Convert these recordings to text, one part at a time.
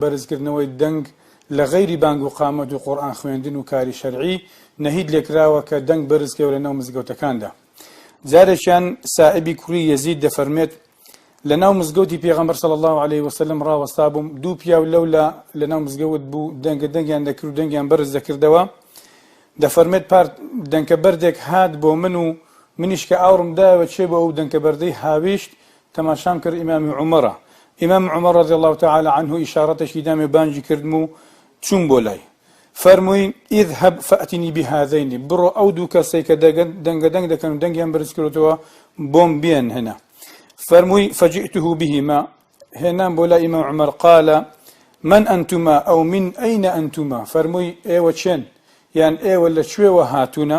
بەرزکردنەوەی دەنگ لە غەیری بانگ و قامەت و قورئان خوێندن و کاری شەرعی نەهید لێکراوە کە دەنگ بەرزکەوێ لەناو مزگەوتەکاندا جارێکیان سائیبی کوڕی یەزید دەفەرمێت لەناو مزگەوتی پێغەمبەر صلی اللە علیه وسلم ڕاوەستابووم دوو پیاو لەولا لەناو مزگەوت بوو دەنگە دەنگیان دەکرد و دەنگیان بەرز دەکردەوە دەفەرمێت پار دەنکە بەردێک هات بۆ من و منیش کە ئاوڕم دایەوە چێ بۆ ئەو دەنکە بەردەی هاویشت تەماشام کرد ئیمام عومەرە، ئیمام عومەر رضی اللە تعالی عنه ئیشارەتێکی دام و بانگی کردم و چووم بۆ لای. فەرمووی، اذهب فاتنی بهذین، بڕۆ ئەو دوو کەسەی کە دەنگە دەنگ دەکەن و دەنگیان بەرز کردووە بۆم بێنهنە. فەرمووی، فجئته بهما، هێنام بۆ لای ئیمام عومەر، قال، من انتما او من این انتما، فەرمووی، ئێوە کێن؟ یان ئێوە لە کوێوە هاتوونە؟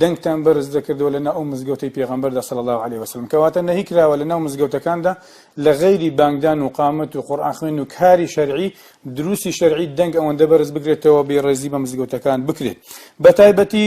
دەنگتان بەرز دەکردەوە لەناو ئەو مزگەوتەی پێغەمبەردا صلی اللە علیە وسلم کەواتە نەهی کراوە لەناو مزگەوتەکاندا لە غەیری بانگدان و قامەت و قورئان خوێن و کاری شەرعی دروستی شەرعی دەنگ ئەوەندە بەرز بگرێتەوە بێ ڕێزی بە مزگەوتەکان بکرێت بە تایبەتی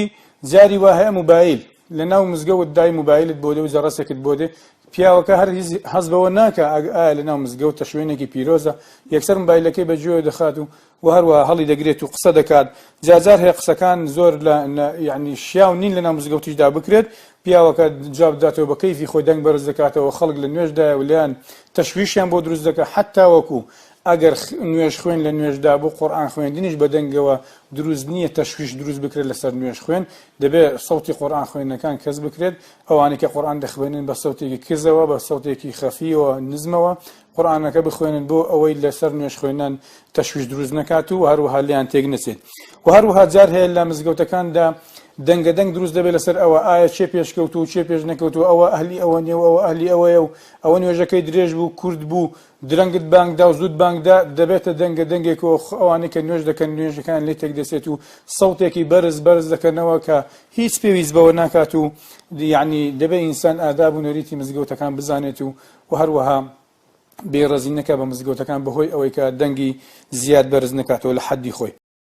جاری وا هەیە موبایل لە ناو مزگەوت دای موبایلت بۆ دێ و جەڕەسێکت بۆ دێ پیاوەکە هەر هەز بەوە ناکە ئەگ ئایا لە ناو مزگەوت تە شوێنێکی پیرۆزە یەکسەر موبایلەکەی بەگوێ دەخات و و هەروەها هەڵی دەگرێت و قسە دەکات جا جار هەیە قسەکان زۆر لە نە یەعنی شیاو نین لەناو مزگەوتیشدا بکرێت پیاوەکە جواب دەداتەوە بە کەیفی خۆی دەنگ بەرز دەکاتەوە خەڵک لە نوێژدایە و لێیان تەشویشیان بۆ دروست دەکات حەتاوەکو ئەگەر نوێژ خوێن لە نوێژدا بوو قورئان خوێندنیش بە دەنگەوە دروست نییە تەشویش دروست بکرێت لەسەر نوێژ خوێن دەبێت سەوتی قورئان خوێندنەکان کەس بکرێت ئەوانەی کە قورئان دەخوێنن بە سەوتێکی کزەوە بە سەوتێکی خەفیەوە نزمەوە قورئانەکە بخوێنن بۆ ئەوەی لەسەر نوێژ خوێنان تەشویش دروست نەکات و هەروەها لێیان تێک نەچێت و هەروەها جار هەیە لە مزگەوتەکاندا دەنگە دەنگ دروست دەبێت لەسەر ئەوە ئایا چێ پێشکەوت و چێ پێش نەکەوت و ئەوە ئەهلی ئەوە نێو ئەوە ئەهلی ئەوەیە و ئەوە نوێژەکەی درێژ بوو کورد بوو درەنگت بانگدا و زود بانگدا دەبێتە دەنگە دەنگێک و ئەوانەی کە نوێژ دەکەن نوێژەکان لێ تێک دەسێت و سەوتێکی بەرز بەرز دەکەنەوە کە هیچ پێویست بەوە ناکات و یعنی دەبێت ئینسان ئاداب و نەریتی مزگەوتەکان بزانێت و و هەروەها بێڕێزی نەکات بە مزگەوتەکان بەهۆی ئەوەی کە دەنگی زیاد بەرز نەکاتەوە لە حەدی خۆی.